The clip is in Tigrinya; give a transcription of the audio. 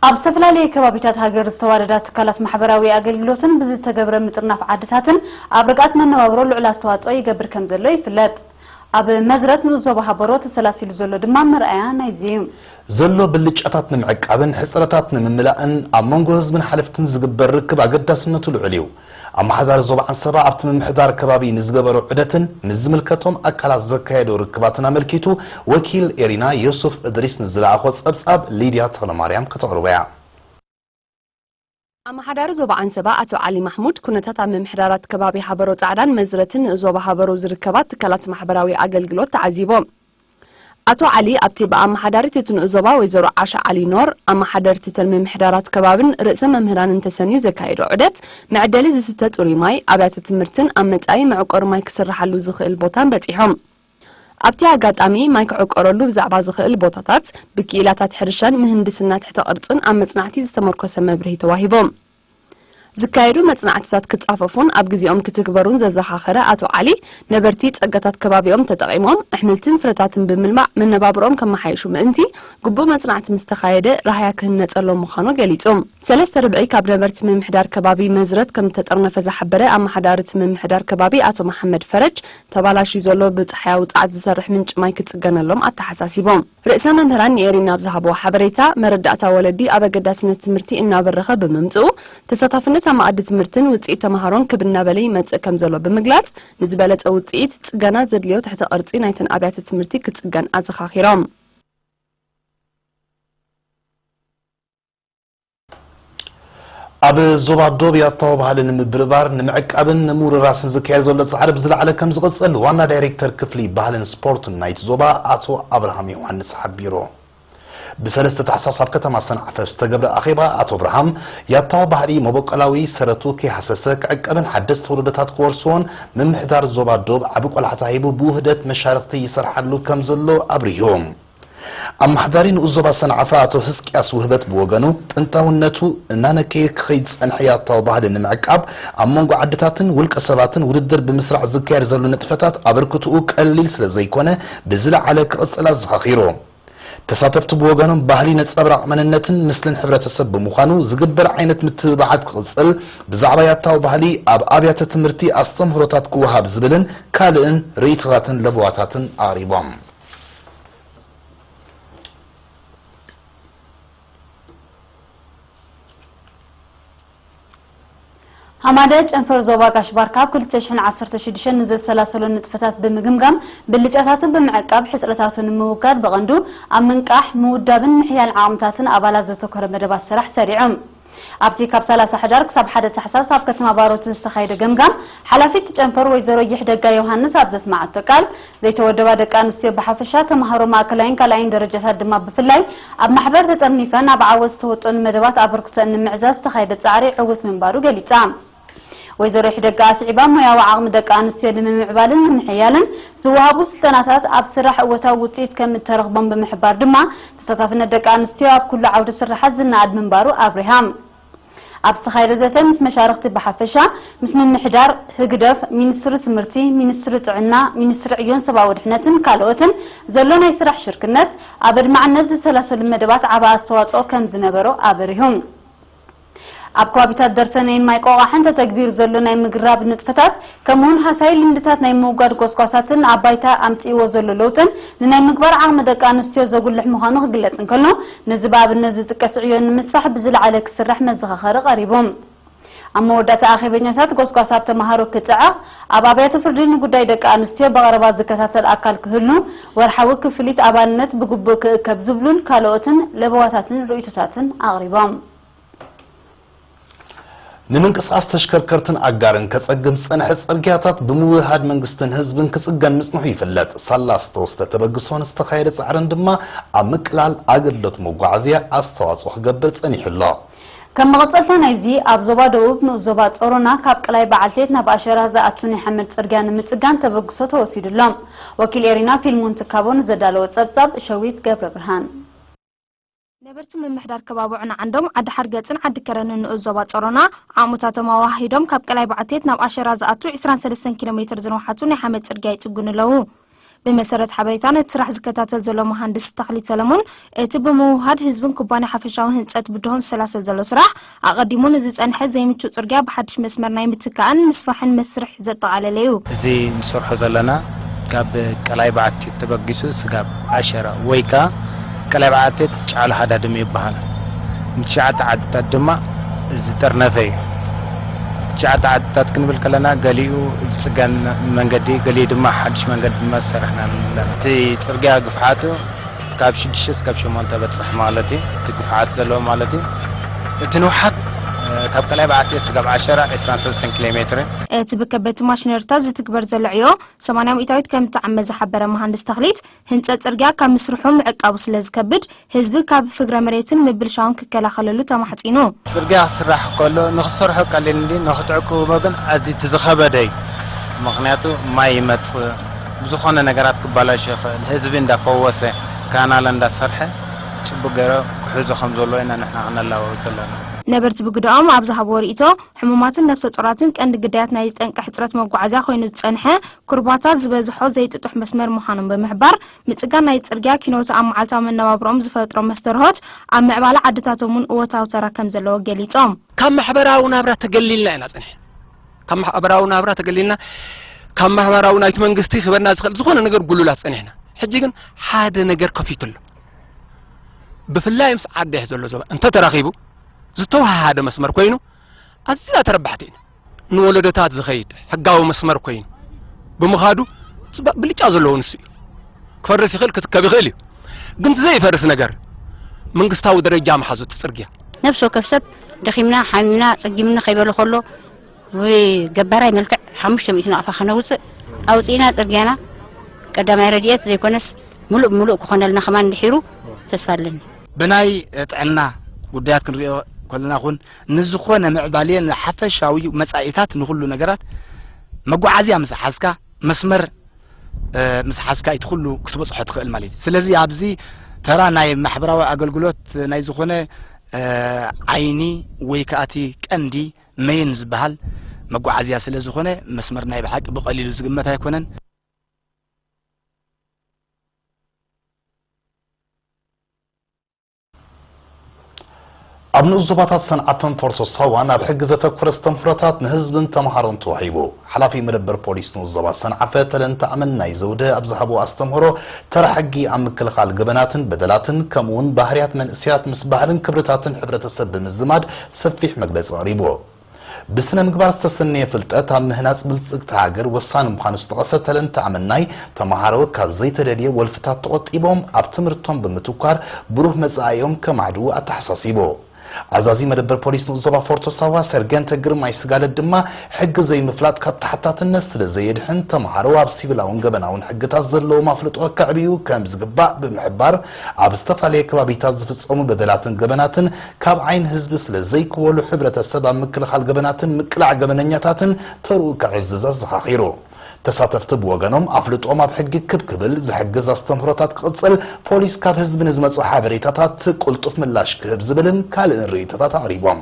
ኣብ ዝተፈላለየ ከባቢታት ሃገር ዝተዋደዳ ትካላት ማሕበራዊ ኣገልግሎትን ብዝተገብረ ምጥርናፍ ዓድታትን ኣብ ርግኣት መነባብሮ ልዑል ኣስተዋፅኦ ይገብር ከምዘሎ ይፍለጥ። ኣብ መዝረት ንኡስ ዞባ ሃበሮ ተሰላሲሉ ዘሎ ድማ መርኣያ ናይዚ እዩ። ዘሎ ብልጫታት ንምዕቃብን ሕፅረታት ንምምላእን ኣብ መንጎ ህዝብን ሓለፍትን ዝግበር ርክብ ኣገዳስነቱ ልዑል እዩ። ኣመሓዳሪ ዞባ ዓንሰባ ኣብቲ ምምሕዳር ከባቢ ንዝገበሮ ዑደትን ምስ ዝምልከቶም ኣካላት ዘካየዶ ርክባትን ኣመልኪቱ ወኪል ኤሪና ዮሱፍ እድሪስ ንዝለኣኾ ፀብፃብ ሊድያ ተኽለማርያም ክተቕርቦ እያ። ኣመሓዳሪ ዞባ ዓንሰባ ኣቶ ዓሊ ማሕሙድ ኩነታት ኣብ ምምሕዳራት ከባቢ ሃበሮ ፃዕዳን መዝረትን ንኡዞባ ሃበሮ ዝርከባ ትካላት ማሕበራዊ ኣገልግሎት ተዓዚቦም። ኣቶ ዓሊ ኣብቲ ብኣመሓዳሪት እቲ ንኡስ ዞባ ወይዘሮ ዓሻ ዓሊ ኖር፣ ኣመሓደርቲ ትልሚ ምሕደራት ከባብን ርእሰ መምህራንን ተሰንዩ ዘካየዶ ዑደት፣ መዐደሊ ዝስተ ጽሩይ ማይ፣ ኣብያተ ትምህርትን ኣብ መጻኢ መዕቆሪ ማይ ክስርሓሉ ዝኽእል ቦታን በጺሖም። ኣብቲ ኣጋጣሚ፣ ማይ ክዕቆረሉ ብዛዕባ ዝኽእል ቦታታት፣ ብክኢላታት ሕርሻን ምህንድስና ትሕተ ቅርጽን ኣብ መጽናዕቲ ዝተመርኮሰ መብርሂ ተዋሂቦም። ዝካየዱ መጽናዕትታት ክጻፈፉን ኣብ ግዜኦም ክትግበሩን ዘዘኻኸረ ኣቶ ዓሊ፣ ነበርቲ ጸጋታት ከባቢኦም ተጠቒሞም ኣሕምልትን ፍረታትን ብምልማዕ መነባብሮኦም ከመሓይሹ ምእንቲ፣ ግቡእ መጽናዕቲ ምስ ተኻየደ ራህያ ክህነጸሎም ምዃኑ ገሊጹ። ሰለስተ ርብዒ ካብ ነበርቲ ምምሕዳር ከባቢ መዝረት ከም ዝተጠርነፈ ዝሓበረ ኣመሓዳሪ እቲ ምምሕዳር ከባቢ ኣቶ መሓመድ ፈረጅ፣ ተባላሽዩ ዘሎ ብጸሓያዊ ጸዓት ዝሰርሕ ምንጪ ማይ ክጽገነሎም ኣተሓሳሲቡ። ርእሰ መምህራን ንኤሪና ኣብ ዝሃብዎ ሓበሬታ፣ መረዳእታ ወለዲ ኣብ ኣገዳስነት ትምህርቲ እናበረኸ ብምምፅኡ ተሳታፍነት ኣብ መኣዲ ትምህርትን ውፅኢት ተምሃሮን ክብ እናበለ ይመፅእ ከምዘሎ ብምግላፅ፣ ንዝበለፀ ውፅኢት ፅገና ዘድልዮ ትሕተ ቅርፂ ናይተን ኣብያተ ትምህርቲ ክፅገን ኣዘኻኺሮም። ኣብ ዞባ ዶብ ያታዊ ባህሊ ንምብርባር፣ ንምዕቃብን ንምውርራስን ዝካየድ ዘሎ ጻዕሪ ብዝለዓለ ከምዝቕጽል ዋና ዳይሬክተር ክፍሊ ባህልን ስፖርትን ናይቲ ዞባ ኣቶ ኣብርሃም ዮሃንስ ሓቢሩ። ብሰለስተ ታሕሳስ ኣብ ከተማ ሰንዓፈ ኣብ ዝተገብረ ኣኼባ ኣቶ ኣብርሃም፣ ያታዊ ባህሊ መበቆላዊ ሰረቱ ከይሃሰሰ ክዕቀብን ሓደስቲ ወለዶታት ክወርስዎን ምምሕዳር ዞባ ዶብ ዓቢ ቆላሕታ ሂቡ ብውህደት መሻርኽቲ ይሰርሓሉ ከምዘሎ ኣብሪሁ። ኣማሓዳሪ ንኡስ ዞባ ሰንዓፈ ኣቶ ህዝቅያስ ውህበት ብወገኑ፣ ጥንታውነቱ እናነከየ ክኸይድ ዝጸንሐ ያታዊ ባህሊ ንምዕቃብ፣ ኣብ መንጎ ዓድታትን ውልቀ ሰባትን ውድድር ብምስራዕ ዝካየድ ዘሎ ንጥፈታት ኣበርክትኡ ቀሊል ስለዘይኮነ ብዝለዓለ ክቕጽል ኣዘኻኺሩ። ተሳተፍቲ ብወገኖም፣ ባህሊ ነጸብራቕ መንነትን ምስልን ሕብረተሰብ ብምዃኑ፣ ዝግበር ዓይነት ምትብባዓት ክቕጽል፣ ብዛዕባ ያታዊ ባህሊ ኣብ ኣብያተ ትምህርቲ ኣስተምህሮታት ክወሃብ ዝብልን ካልእን ርእይቶታትን ለበዋታትን ኣቕሪቦም። ሃማደ ጨንፈር ዞባ ጋሽ ባርካ ኣብ ክልተ ሽሕን ዓሰርተ ሽዱሽተን ንዘሰላሰሎ ንጥፈታት ብምግምጋም ብልጫታቱ ብምዕቃብ ሕፅረታቱ ንምውጋድ ብቐንዱ ኣብ ምንቃሕ፣ ምውዳብን ምሕያል ዓቕምታትን ኣባላት ዘተኮረ መደባት ስራሕ ሰሪዖም። ኣብቲ ካብ ሰላሳ ሕዳር ክሳብ ሓደ ታሕሳስ ኣብ ከተማ ባሮት ዝተኻየደ ገምጋም፣ ሓላፊት ጨንፈር ወይዘሮ ይሕደጋ ዮሃንስ ኣብ ዘስመዓቶ ቃል፣ ዘይተወደባ ደቂ ኣንስትዮ ብሓፈሻ፣ ተማሃሮ ማእከላይን ካልኣይን ደረጃታት ድማ ብፍላይ ኣብ ማሕበር ተጠርኒፈን ኣብ ዓወት ዝተወጠኑ መደባት ኣበርክቶኣን ንምዕዛዝ ዝተኻየደ ጻዕሪ ዕዉት ምንባሩ ገሊጻ። ወይዘሮ ይሕደጋ ኣስዒባ፣ ሞያዊ ዓቕሚ ደቂ ኣንስትዮ ንምምዕባልን ንምሕያልን ዝወሃቡ ስልጠናታት ኣብ ስራሕ እወታዊ ውፅኢት ከም እተረኽቦም ብምሕባር ድማ ተሳታፍነት ደቂ ኣንስትዮ ኣብ ኩሉ ዓውደ ስርሓት ዝነኣድ ምንባሩ ኣብሪሃም። ኣብ ዝተኻየደ ዘተ ምስ መሻርኽቲ ብሓፈሻ፣ ምስ ምምሕዳር ህግደፍ፣ ሚኒስትሪ ትምህርቲ፣ ሚኒስትሪ ጥዕና፣ ሚኒስትሪ ዕዮን ሰብኣዊ ድሕነትን ካልኦትን ዘሎ ናይ ስራሕ ሽርክነት ኣብ ኣድማዕነት ዝሰላሰሉ መደባት ዓቢ ኣስተዋፅኦ ከም ዝነበሮ ኣብሪሁም። ኣብ ከባቢታት ደርሰነይን ማይ ቆቛሕን ተተግቢሩ ዘሎ ናይ ምግራብ ንጥፈታት ከምኡውን ሃሳዪ ልምድታት ናይ ምውጋድ ጐስጓሳትን ኣብ ባይታ ኣምጺእዎ ዘሎ ለውጥን ንናይ ምግባር ዓቕሚ ደቂ ኣንስትዮ ዘጉልሕ ምዃኑ ክግለጽ እንከሎ ነዚ ብኣብነት ዝጥቀስ ዕዮ ንምስፋሕ ብዝለዓለ ክስራሕ መዘኻኸሪ ቀሪቡ። ኣብ መወዳእታ ኣኼበኛታት ጐስጓስ ኣብ ተመሃሮ ክጽዕቕ ኣብ ኣብያተ ፍርዲ ንጉዳይ ደቂ ኣንስትዮ ብቐረባ ዝከታተል ኣካል ክህሉ፣ ወርሓዊ ክፍሊት ኣባልነት ብግቡእ ክእከብ ዝብሉን ካልኦትን ለበዋታትን ርእይቶታትን ኣቕሪቦም። ንምንቅስቓስ ተሽከርከርትን ኣጋርን ከጸግም ዝጸንሐ ጽርግያታት ብምውህሃድ መንግስትን ህዝብን ክጽገን ምጽንሑ ይፍለጥ። ሳላ ዝተወስደ ተበግሶን ዝተኻየደ ጻዕርን ድማ ኣብ ምቅላል ኣገልግሎት መጓዓዝያ ኣስተዋጽኦ ክገብር ጸኒሑ ኣሎ። ከም መቐጸልታ ናይዚ፣ ኣብ ዞባ ደቡብ ንኡስ ዞባ ጸሮና ካብ ቀላይ በዓልቴት ናብ ኣሸራህ ዝኣቱ ናይ ሓመድ ጽርግያ ንምጽጋን ተበግሶ ተወሲዱ ኣሎ። ወኪል ኤሪና ፊልሞን ትካቦ ንዘዳለዎ ጸብጻብ ሸዊት ገብረብርሃን። ነበርቲ ምምሕዳር ከባቢ ዑናዓንዶም፣ ዓዲሓርገጽን ዓዲከረንን ንኡስ ዞባ ጸሮና፣ ዓቕምታቶም ኣወሃሂዶም ካብ ቀላይ በዓልቴት ናብ ኣሸራህ ዝኣቱ ዕስራን ሰለስተን ኪሎ ሜትር ዝንውሓቱ ናይ ሓመድ ጽርግያ ይጽግኑ ኣለዉ። ብመሰረት ሓበሬታ ነቲ ስራሕ ዝከታተል ዘሎ መሃንድስ ተኽሊት ሰለሙን፣ እቲ ብምውህሃድ ህዝብን ኩባንያ ሓፈሻዊ ህንፀት ብድሆ ዝሰላሰል ዘሎ ስራሕ፣ ኣቐዲሙ ንዝፀንሐ ዘይምቹእ ፅርግያ ብሓድሽ መስመር ናይ ምትካእን ምስፋሕን መስርሕ ዘጠቓለለ እዩ። እዚ ንሰርሖ ዘለና ካብ ቀላይ በዓቲ ተበጊሱ ስጋብ ዓሸራ ወይ ከኣ ቀላይ በዓትት ጫሉ ሃዳድም ይበሃል። ን ትሽዓተ ዓድታት ድማ ዝጠርነፈ እዩ። ትሽዓተ ዓድታት ክንብል ከለና ገሊኡ ዝጽገን መንገዲ ገሊኡ ድማ ሓድሽ መንገዲ ድማ ዝሰራሕና ኣለና። እቲ ጽርግያ ግፍሓቱ ካብ ሽዱሽተ እስካብ ሸሞንተ በጽሕ ማለት እዩ። እቲ ግፍሓት ዘለዎ ማለት እዩ። እቲ ንውሓት ካብ ቀላይ በዓትት እስካብ ዓሸራ ዕስራን ሰለስተን ኪሎ ሜትር እዩ። እቲ ብከበድቲ ማሽነሪታት ዝትግበር ዘሎ ዕዮ ሰማንያ ሚእታዊት ከም እትዓመ ዝሓበረ መሃንድስ ተኽሊት፣ ህንፀት ፅርግያ ካብ ምስርሑ ምዕቃቡ ስለዝከብድ ህዝቢ ካብ ፍግረ መሬትን ምብልሻውን ክከላኸለሉ ተማሕፂኑ። ፅርግያ ክስራሕ ከሎ ንክትሰርሖ ቀሊል እንድዩ ንክትዕቅብዎ ግን ኣዝዩ እቲ ዝኸበደ እዩ። ምኽንያቱ ማይ ይመፅእ ብዝኾነ ነገራት ክበላሾ ይኽእል። ህዝቢ እንዳፈወሰ ካናል እንዳሰርሐ ፅቡቕ ገይሩ ክሕዞ ከምዘለዎ ኢና ንሕና ክነላብቦ ዘለና። ነበርቲ ብግደኦም ኣብ ዝሃብዎ ሪኢቶ፣ ሕሙማትን ነብሰ ፆራትን ቀንዲ ግዳያት ናይዚ ጠንቂ ሕፅረት መጓዓዝያ ኮይኑ ዝፀንሐ ኩርባታት ዝበዝሖ ዘይጥጡሕ መስመር ምዃኖም ብምሕባር፣ ምጽጋን ናይ'ቲ ጽርግያ ኪኖ'ቲ ኣብ መዓልታዊ መነባብሮኦም ዝፈጥሮ መስተርሆት፣ ኣብ ምዕባለ ዓድታቶም'ውን እወታዊ ተራ ከምዘለዎ ገሊጾም። ካብ ማሕበራዊ ናብራ ተገሊልና ኢና ጸኒሕና። ካብ ማሕበራዊ ናብራ ተገሊልና፣ ካብ ማሕበራዊ ናይ'ቲ መንግስቲ ክህበና ዝኽእል ዝኾነ ነገር ጉሉላት ጸኒሕና። ሕጂ ግን ሓደ ነገር ከፊቱ ኣሎ። ብፍላይ ምስ ዓዴሕ ዘሎ ዞባ እንተተረኺቡ ዝተወሃሃደ መስመር ኮይኑ ኣዚና ተረባሕቲ ኢና። ንወለዶታት ዝኸይድ ሕጋዊ መስመር ኮይኑ ብምኻዱ ጽባእ ብልጫ ዘለዎ ንሱ እዩ። ክፈርስ ይኽእል ክትከብ ይኽእል እዩ ግን እቲ ዘይፈርስ ነገር መንግስታዊ ደረጃ ምሓዙ እቲ ጽርግያ ነብሲ ወከፍ ሰብ ደኺምና ሓሚምና ጸጊምኒ ከይበለ ከሎ ብገባራይ መልክዕ ሓሙሽተ ሚእቲ ናቕፋ ከነውጽእ ኣውጺእና ጽርግያና ቀዳማይ ረድኤት ዘይኮነስ ምሉእ ብምሉእ ክኾነልና ከማን ድሒሩ ተስፋ ኣለኒ። ብናይ ጥዕና ጉዳያት ክንሪኦ ከለና ኹን ንዝኾነ ምዕባሌ ንሓፈሻዊ መጻኢታት ንኹሉ ነገራት መጓዓዝያ ምስ ሓዝካ መስመር ምስ ሓዝካ እቲ ኩሉ ክትበጽሖ ትኽእል ማለት እዩ ስለዚ ኣብዚ ተራ ናይ ማሕበራዊ ኣገልግሎት ናይ ዝኾነ ዓይኒ ወይ ከዓ እቲ ቀንዲ መይን ዝበሃል መጓዓዝያ ስለ ዝኾነ መስመር ናይ ብሓቂ ብቐሊሉ ዝግመት ኣይኮነን ኣብ ንኡስ ዞባታት ሰንዓፈን ፎርቶ ሳዋን ኣብ ሕጊ ዘተኮረ ኣስተምህሮታት ንህዝብን ተምሃሮን ተዋሂቡ። ሓላፊ መደበር ፖሊስ ንኡስ ዞባ ሰንዓፈ ተለንተ ኣመናይ ዘውደ ኣብ ዝሃብዎ ኣስተምህሮ ተራ ሕጊ ኣብ ምክልኻል ገበናትን በደላትን ከምኡ'ውን ባህርያት መንእሰያት ምስ ባህልን ክብርታትን ሕብረተሰብ ብምዝማድ ሰፊሕ መግለጺ ኣቕሪቡ። ብስነ-ምግባር ዝተሰነየ ፍልጠት ኣብ ምህናጽ ብልጽግቲ ሃገር ወሳኒ ምዃኑ ዝጠቐሰ ተለንተ ኣመናይ፣ ተመሃሮ ካብ ዘይተደልየ ወልፍታት ተቖጢቦም ኣብ ትምህርቶም ብምትኳር ብሩህ መጻኢኦም ከማዕድዉ ኣተሓሳሲቡ። ኣዛዚ መደበር ፖሊስ ንኡስ ዞባ ፎርቶ ሳዋ ሰርገንተ ግርማይ ስጋለት ድማ ሕጊ ዘይምፍላጥ ካብ ተሓታትነት ስለዘየድሕን ተመሃሮ ኣብ ሲቪላውን ገበናውን ሕግታት ዘለዎም ኣፍልጦ ከዕብዩ ከምዝግባእ ብምሕባር ኣብ ዝተፈላለየ ከባቢታት ዝፍጸሙ በደላትን ገበናትን ካብ ዓይኒ ህዝቢ ስለ ዘይክወሉ ሕብረተሰብ ኣብ ምክልኻል ገበናትን ምቅላዕ ገበነኛታትን ተርኡ ከዕዝዝ ኣዘኻኺሩ። ተሳተፍቲ ብወገኖም ኣፍልጦኦም ኣብ ሕጊ ክብ ክብል ዝሕግዝ ኣስተምህሮታት ክቕጽል፣ ፖሊስ ካብ ህዝቢ ንዝመጹ ሓበሬታታት ቅልጡፍ ምላሽ ክህብ ዝብልን ካልእን ርእይቶታት ኣቕሪቦም።